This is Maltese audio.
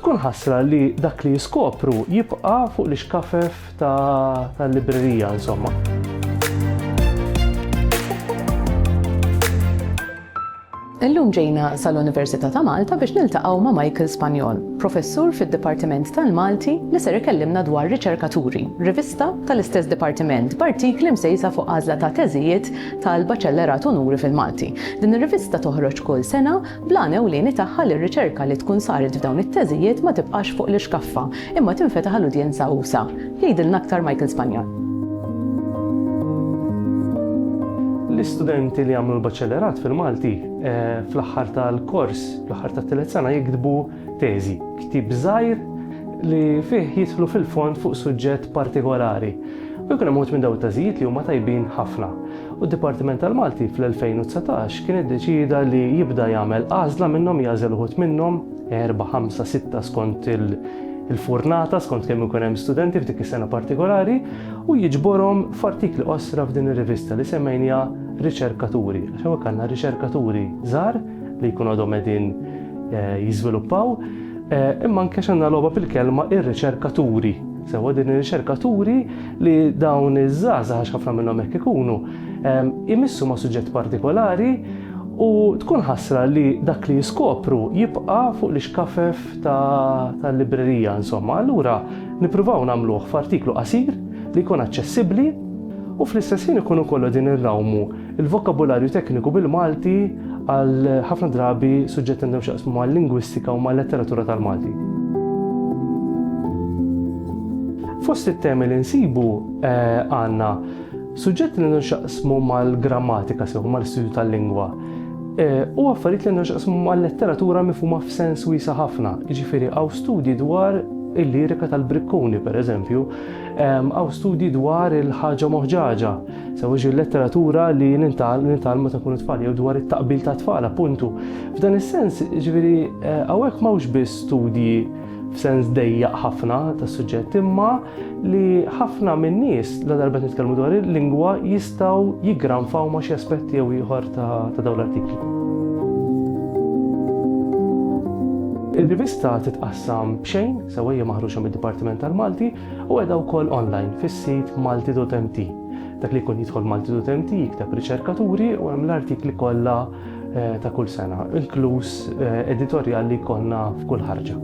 Tkun ħasra li dak li jiskopru jibqa' fuq l-ixkafef tal-librerija, insomma. Illum ġejna sal-Università ta' Malta biex niltaqgħu ma' Michael Spanjol, professur fid-Dipartiment tal-Malti li ser ikellimna dwar Riċerkaturi, rivista tal-istess dipartiment b'artikli msejsa fuq għażla ta' teżijiet tal-Baċellerat Unuri fil-Malti. Din ir-rivista toħroġ kull sena bl-għan ewlieni tagħha li r-riċerka li tkun saret f'dawn it-teżijiet ma tibqax fuq l-ixkaffa, imma tinfetaħ għal udjenza usa'. Jgħidilna aktar Michael Spagnol. L-istudenti li jagħmlu l-Baċellerat fil-Malti fl-aħħar tal-kors, fl-aħħar tat-tielet sena jiktbu, Teżi, ktieb żgħir li fih jidħlu fil-fond fuq suġġett partikolari u jkun hemm uħud minn dawn it-teżijiet li huma tajbin ħafna. U d-Dipartiment tal-Malti fl-2019 kien iddeċieda li jibda jagħmel għażla minnhom jagħżel uħud minnhom, erbgħa, ħamsa, sitta skont il-furnata, skont kemm ikun hemm studenti f'dik is-sena partikolari u jiġborhom f'artikli qosra f'din ir-rivista li semmejniha Riċerkaturi, għax hawnhekk għandna riċerkaturi żgħar li jkun għadhom qegħdin eh, jiżviluppaw, eh, imma anke xanna logħba bil-kelma ir-riċerkaturi. Sewa din ir-riċerkaturi li dawn iż-żgħażagħ għax ħafna minnhom hekk ikunu eh, imissu ma' suġġett partikolari u tkun ħasra li dak li jiskopru jibqa' fuq l-iskafef tal-librerija insomma. Allura nippruvaw nagħmluh f'artiklu qasir li jkun aċċessibbli u fl-istess ħin ikun ukoll din irrawmu Il-vokabularju tekniku bil-Malti għal ħafna drabi suġġetti għandhom x'jaqsmu mal-lingwistika u mal-letteratura tal-Malti. Fost it-temi li nsibu għandna suġġetti li għandhom x'jaqsmu mal-grammatika sew mal-istudju tal-lingwa u affarijiet li għandhom x'jaqsmu mal-letteratura mifhuma f'sens wiesa' ħafna, jiġifieri hawn studji dwar il-lirika tal-Brikkuni, pereżempju, hawn studji dwar il-ħaġa moħġaġa, Sewwiex il-letteratura li nitgħallmu ta' kun it-tfal jew dwar it-taqbil ta' tfal appuntu. F'dan is-sens, ġifieri eh, hawnhekk m'hawnx biss studji f'sens dejjaq ħafna tas-suġġett imma li ħafna min-nies la darba nitkellmu dwar il-lingwa jistgħu jiggranfaw ma' xi aspetti jew ieħor ta' dawn l-artikli. Il-rivista titqassam b'xejn, sewwejja maħruġa mid-Dipartiment tal-Malti, u qiegħda wkoll online fis-sit Maltidotmt. Dak li jkun jidħol Maltidotmt jikteb riċerkaturi u hemm l-artikli kollha eh, ta' kull sena, inkluż eh, editorjal li jkollna f'kull ħarġa.